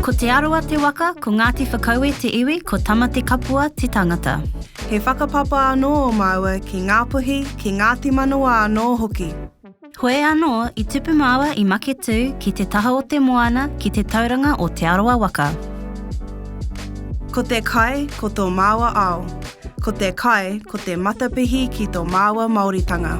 Ko Te Arawa te waka, ko Ngāti Whakaue te iwi, ko Tamatekapua te tangata. He whakapapa anō o māua ki Ngāpuhi, ki Ngāti Manawa anō hoki. Koe anō i tupu māua i Maketū ki te taha o te moana ki te tauranga o Te Arawa waka. Ko te kai, ko tō māua ao. Ko te kai, ko te matapihi ki tō māua Māoritanga.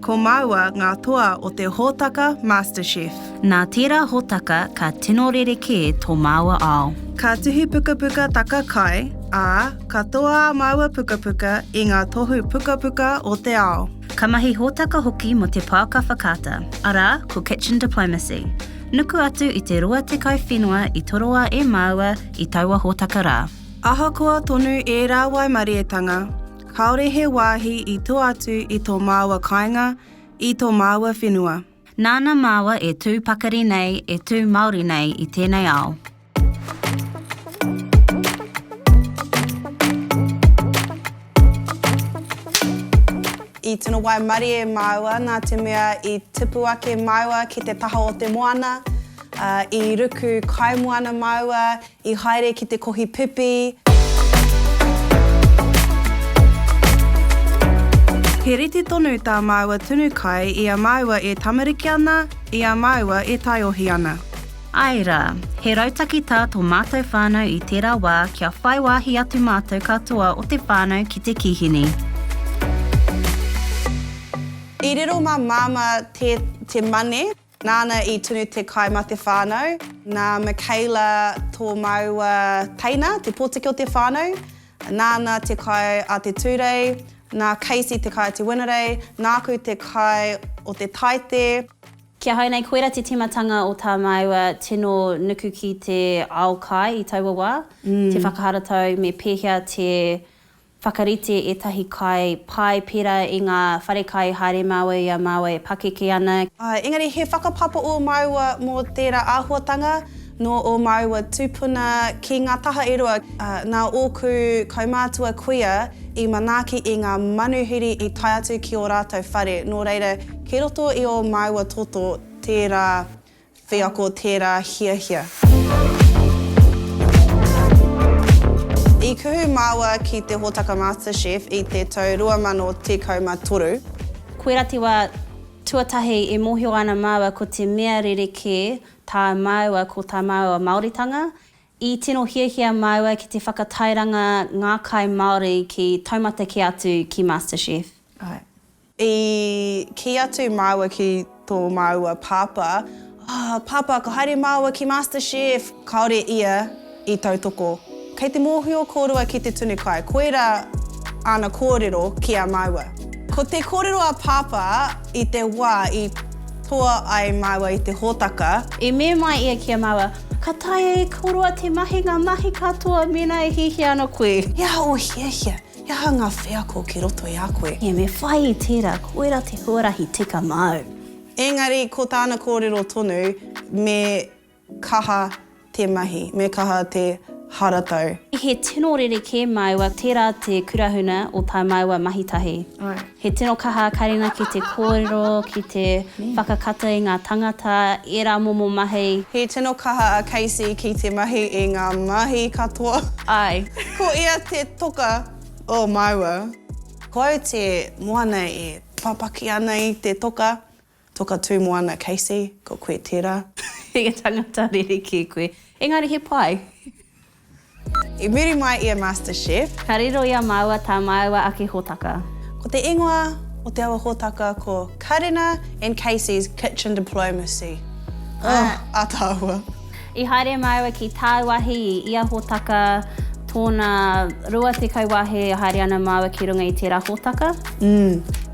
Ko māua ngā toa o te hōtaka MasterChef. Nā tērā hōtaka ka tino rerekē tō māua ao. Ka tuhi pukapuka taka kai, ā, ka toa ā māua pukapuka i ngā tohu pukapuka o te ao. Ka mahi hōtaka hoki mō te Pouaka Whakaata, arā, ko Kitchen Diplomacy. Nuku atu i te 20 whenua i toroa e māua i taua hōtaka rā. Ahakoa tonu ērā waimarietanga, Kāore he wāhi i tua atu i tō māua kāinga, i tō māua whenua. Nāna māua e tū pakari nei, e tū Māori nei i tēnei ao. I tino waimarie māua nā te mea i tipu ake māua ki te taha o te moana, i ruku kaimoana māua, I haere ki te kohi pipi. He rite tonu tā māua tunu kai i a māua e tamariki ana, i a māua e taiohi ana. Āe rā, he rautaki tā tō mātou whānau i tērā wā kia whai wāhi atu mātou katoa o te whānau ki te kīhini. I riro mā Māmā te, te mane. Nāna i tunu te kai mā te whānau. Nā Michaela tō māua teina, te pōtiki o te whānau. Nāna te kai a Te Tūrei, nā Casey te kai a Te Wenerei, nāku te kai o Te Taite. Ki ahau nei, koira te tīmatanga o tā māua tino nuku ki te ao kai i taua wā, te whakaharatau me pēhea te Whakarite ētahi kai pai pērā i ngā wharekai haere māua i a māua e pakeke ana. Engari he whakapapa ō māua mō tērā āhuatanga nō ō māua tūpuna ki ngā taha e rua. Nā ōku kaumātua kuia i manaaki i ngā manuhiri i tae atu ki ō rātou whare, nō reira, kei roto i ō māua toto tērā Wheako tērā hiahia. I kuhu māua ki te hōtaka MasterChef i te tau 2013. Koirā te wā tuatahi e mōhio ana māua ko te mea rerekē tā māua ko tā māua Māoritanga. I tino hiahia māua ki te whakatairanga ngā kai Māori ki taumata kē atu ki MasterChef. I kī atu māua ki tō māua pāpā, Oh, pāpā, ka haere māua ki Master Chef! Kāore ia i tautoko. Kei te mōhio kōrua ki te tunu kai, koirā āna kōrero ki a māua. Ko te kōrero a pāpā i te wā i toa ai māua i te hōtaka. I memae ia ki a māua, Ka taea e kōrua te mahi ngā mahi katoa mēnā e hiahia ana koe. He aha ō hiahia? He aha ngā wheako ki roto i a koe? Ia, me whai i tērā, koirā te huarahi tika māu. Engari, ko tāna kōrero tonu, me kaha te mahi, me kaha te haratau. He tino rerekē māua, tērā te kurahuna o tā māua mahitahi. He tino kaha a Karina ki te kōrero, ki te whakakata i ngā tangata, ērā momo mahi. He tino kaha a Casey ki te mahi i ngā mahi katoa. Āe. Ko ia te toka o māua. Ko au te moana e papaki ana i te toka. Toka tū moana Casey, ko koe tērā. He tangata rerekē koe. Engari he pai. I muri mai i a Master Chef. Ka riro i a māua tā māua ake hōtaka. Ko te ingoa o te awa hōtaka ko Karena and Casey's Kitchen Diplomacy. Ugh, ataahua. I haere māua ki tāu wāhi i ia hōtaka, tōna 20 wāhi e haere ana māua ki runga i tērā hōtaka.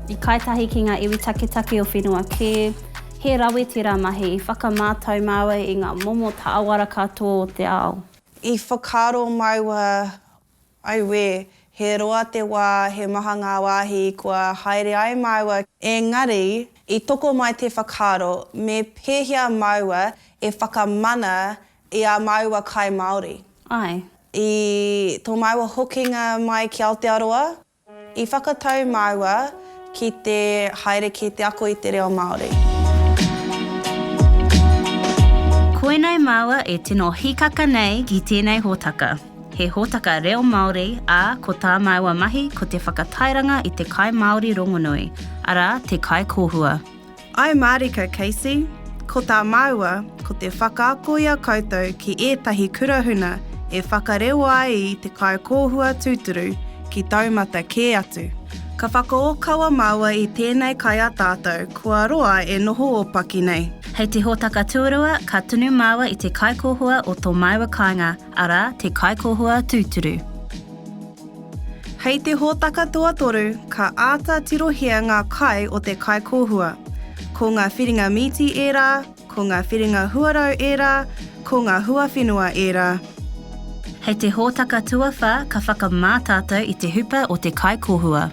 I kai tahi ki ngā iwi taketake o whenua kē, he rawe tērā mahi i whakamātau māua i ngā momo tāwara katoa o te ao. I whakaaro māua Auē! He roa te wā, he maha ngā wāhi kua haere ai māua. Engari, i tokomai te whakaaro, me pēhea māua e whakamana i ā māua kai Māori? Āe. I tō māua hokinga mai ki Aotearoa? I whakatau māua ki te haere ki te ako i te reo Māori. Koinei māua e tino hīkaka nei ki tēnei hōtaka. He hōtaka reo Māori, ā, ko tā māua mahi ko te whakatairanga i te kai Māori rongonui, arā, te kai kōhua. I mārika Casey, ko tā māua, ko te whakaako i a koutou ki ētahi kurahuna e whakarewa ai i te kaikōhua tūturu ki taumata kē atu. Ka whakaōkawa māua i tēnei kai a tātou kua roa e noho ōpaki nei. Hei te hōtaka tuarua, ka tunu māua i te kaikōhua o tō māua kāinga. Arā, te Kaikohua Tūturu. Hei te hōtaka tuatoru, ka āta tirohia ngā kai o te Kaikohua. Ko ngā whiringa mīti ērā, ko ngā whiringa huarau ērā, ko ngā huawhenua ērā. Hei te hōtaka tuawhā, ka whakamā tātou i te hupa o te Kaikohua.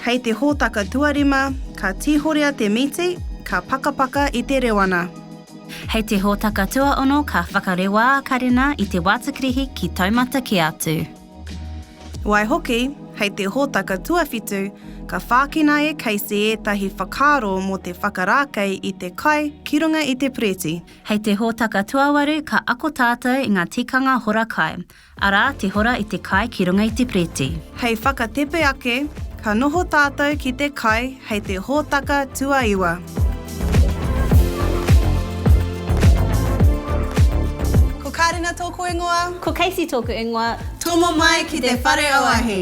Hei te hōtaka tuarima, ka tīhorea te mīti, ka pakapaka i te rewana. Hei te hōtaka tuaono ka whakarewa a Karena i te wātakirihi ki taumata kē atu. Waihoki, hei te hōtaka tuawhitu, ka whākina e Casey ētahi whakaaro mō te whakarākei i te kai ki runga i te Preti. Hei te hōtaka tuawaru ka ako tātou i ngā tikanga hora kai, Arā, te hora i te kai ki runga i te preti. Hei whakatepe ake, ka noho tātou ki te kai hei te hōtaka tuaiwa. Ko Kārena tōku ingoa. Ko Casey tōku ingoa. Tomo mai ki te whare auahi.